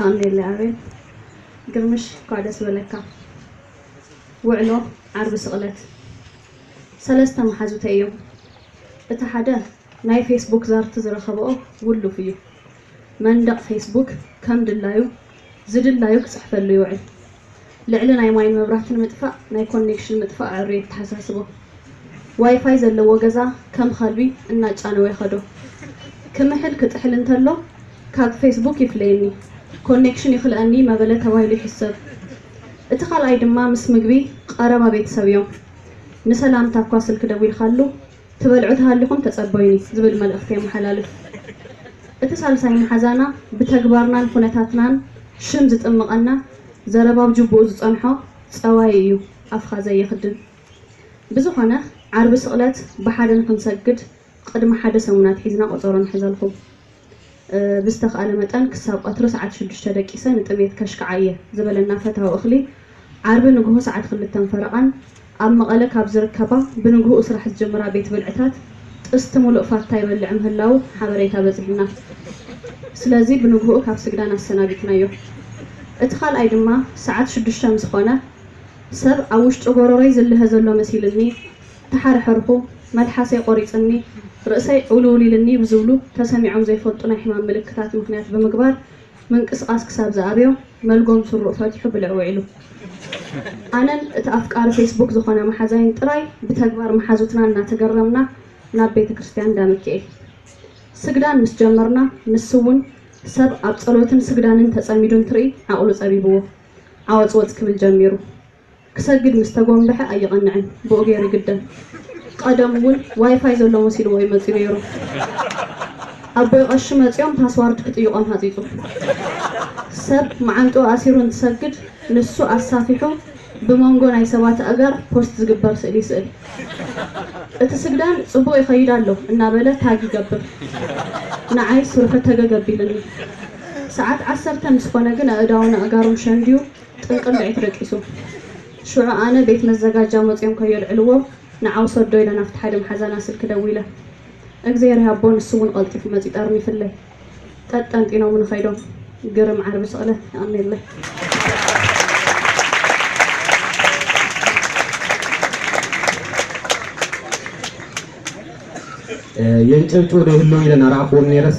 ኣሜለ ኣቤል ግርምሽ እንኳዕ ደስ በለካ። ውዕሎ ዓርቢ ስቕለት ሰለስተ መሓዙተይ እዮም። እቲ ሓደ ናይ ፌስቡክ ዛርቲ ዝረኸበኦ ውሉፍ እዩ። መንደቕ ፌስቡክ ከም ድላዩ ዝድላዩ ክጽሕፈሉ ይውዕል። ልዕሊ ናይ ማይን መብራህትን ምጥፋእ ናይ ኮኔክሽን ምጥፋእ ኣዕርዩ የተሓሳስቦ። ዋይፋይ ዘለዎ ገዛ ከም ኸልቢ እናጫነወ የኸዶ። ክምሕል ክጥሕል እንተሎ ካብ ፌስቡክ ይፍለየኒ፣ ኮኔክሽን ይኽልኣኒ መበለ ተባሂሉ ይሕሰብ። እቲ ካልኣይ ድማ ምስ ምግቢ ቐረባ ቤተሰብ እዮም። ንሰላምታ እኳ ስልኪ ደዊልካሉ፣ ትበልዑ ተሃሊኹም ተጸበዩኒ ዝብል መልእኽቲ የመሓላልፍ። እቲ ሳልሳይ መሓዛና ብተግባርናን ኩነታትናን ሽም ዝጥምቐና፣ ዘረባ ኣብ ጁቡኡ ዝጸንሖ ጸዋዪ እዩ፣ ኣፍኻ ዘይኽድን። ብዝኾነ ዓርቢ ስቕለት ብሓደ ንኽንሰግድ ቕድሚ ሓደ ሰሙን ኣትሒዝና ቆጸሮ ንሕዘልኩም። ብዝተኽኣለ መጠን ክሳብ ቐትሩ ሰዓት ሽዱሽተ ደቂሰ ንጥምየት ከሽክዓ እየ ዝበለና ፈታዊ እኽሊ ዓርቢ ንግሆ ሰዓት ክልተን ፈረቓን ኣብ መቐለ ካብ ዝርከባ ብንግሁኡ ስራሕ ዝጅምራ ቤት ብልዕታት ጥስቲ ሙሉእ ፋታ ይበልዕ ምህላዉ ሓበሬታ በፂሑና ስለዚ ብንግሁኡ ካብ ስግዳን ኣሰናቢትናዮ እቲ ኻልኣይ ድማ ሰዓት ሽዱሽተ ምስኾነ ሰብ ኣብ ውሽጢ ጎሮሮይ ዝልሀ ዘሎ መሲልኒ ተሓርሐርኹ፣ መልሓሰይ ቆሪጽኒ፣ ርእሰይ ዕውልውል ኢልኒ ብዝብሉ ተሰሚዖም ዘይፈልጡ ናይ ሕማም ምልክታት ምኽንያት ብምግባር ምንቅስቓስ ክሳብ ዝኣብዮ መልጎም ስሩኡ ፈቲሑ ብልዒ ውዒሉ። ኣነን እቲ ኣፍቃሪ ፌስቡክ ዝኾነ መሓዛይን ጥራይ ብተግባር መሓዙትና እናተገረምና ናብ ቤተ ክርስቲያን እንዳ ሚኪኤል ስግዳን ምስ ጀመርና ንሱ'ውን ሰብ ኣብ ጸሎትን ስግዳንን ተጸሚዱ እንትርኢ ዓቕሉ ጸቢብዎ ዓወጽወጽ ክብል ጀሚሩ። ክሰግድ ምስ ተጎምበሐ ኣይቐንዕን ብኡ ገይሩ ይግደም ቐደሙ ውን ዋይፋይ ዘሎ መሲልዎ እዩ መጽዩ ነይሩ ኣቦይ ቐሺ መጽዮም ፓስዋርድ ክጥይቖም ሃጺጹ ሰብ መዓንጥኡ ኣሲሩ እንትሰግድ ንሱ ኣሳፊሑ ብሞንጎ ናይ ሰባት ኣእጋር ፖስት ዝግበር ስእሊ ይስእል እቲ ስግዳን ጽቡቕ ይኸይድ ኣሎ እናበለ ታግ ይገብር ንዓይ ስርሑ ተገግ ኣቢልኒ ሰዓት ዓሰርተ ምስ ኾነ ግን ኣእዳዉን ኣእጋሩን ሸንድዩ ጥንቅር ንዒቱ ደቂሱ ሽዑ ኣነ ቤት መዘጋጃ ሞጺኦም ከዮልዕልዎ ንዓው ሰዶ ኢለ ናብቲ ሓደ መሓዛና ስልኪ ደዊለ እግዝሄር ይሃቦ ንሱ ውን ቐልጢፉ መጺኡ ጠርኒፍለይ ጠጥ ጠንጢኖሙኒ ከይዶም ግርም ዓርቢ ስቕለ የቐኔለይ። የንጨብጭቡ ዶ ይህልዉ ኢለ እናረኣኹዎም ነይረስ፣